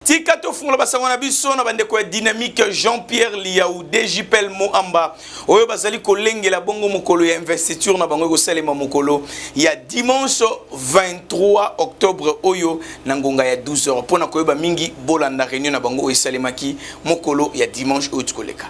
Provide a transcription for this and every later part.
tika tofungola basango na biso na bandeko ya dynamique jean pierre liau djpel moamba oyo bazali kolengela bongo mokolo ya investiture na bango ekosalema mokolo ya dimanche 23 octobre oyo na ngonga ya 12 heures mpo na koyeba mingi bolanda réunion na bango oyo esalemaki mokolo ya dimanche oyo tikoleka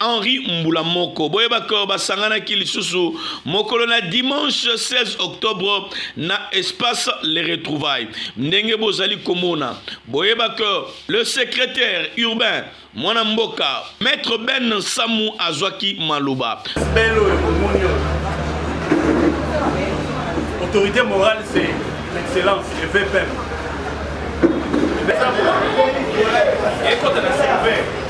Henri Mbula Moko. Boyeba que basanganaki lisusu mokolo na dimanche 16 octobre na espace Les Retrouvailles. Ndenge bozali komona, boyeba que le secrétaire urbain mwana mboka maître Ben Samu azwaki maloba. Belo omoni autorité morale c'est l'excellence le VPM. Ekota na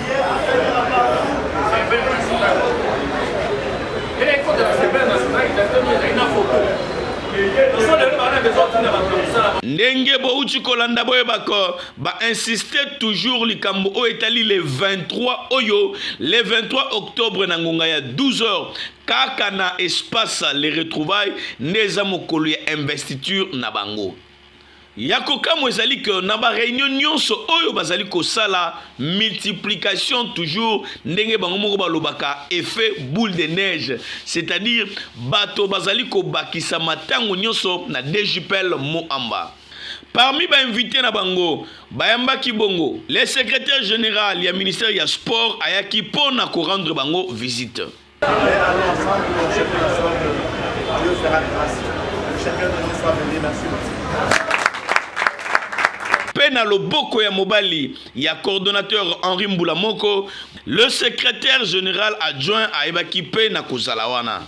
ndenge bouti kolanda boyebaka bainsiste toujours likambo oyo etali le 23 oyo le 23 octobre na ngonga ya 12 heures kaka na espace le retrouvaille nde eza mokolo ya investiture na bango Ya kokamwa ezali que na ba reunion nyonso oyo bazali kosala multiplication toujours ndenge bango moko balobaka effet boule de neige c'est-à-dire bato bazali kobakisa matango nyonso na DJPL Moamba. Parmi ba invite na bango bayambaki bongo le secretaire general ya ministère ya sport ayaki mpo na korendre bango visite. mpe na loboko ya mobali ya coordonnateur Henri Mbula Moko, le secrétaire général adjoint ayebaki mpe na kozala wana.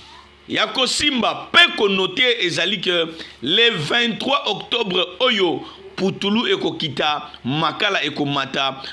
Ya kosimba mpe konote ezali ke le 23 octobre oyo putulu ekokita, makala ekomata,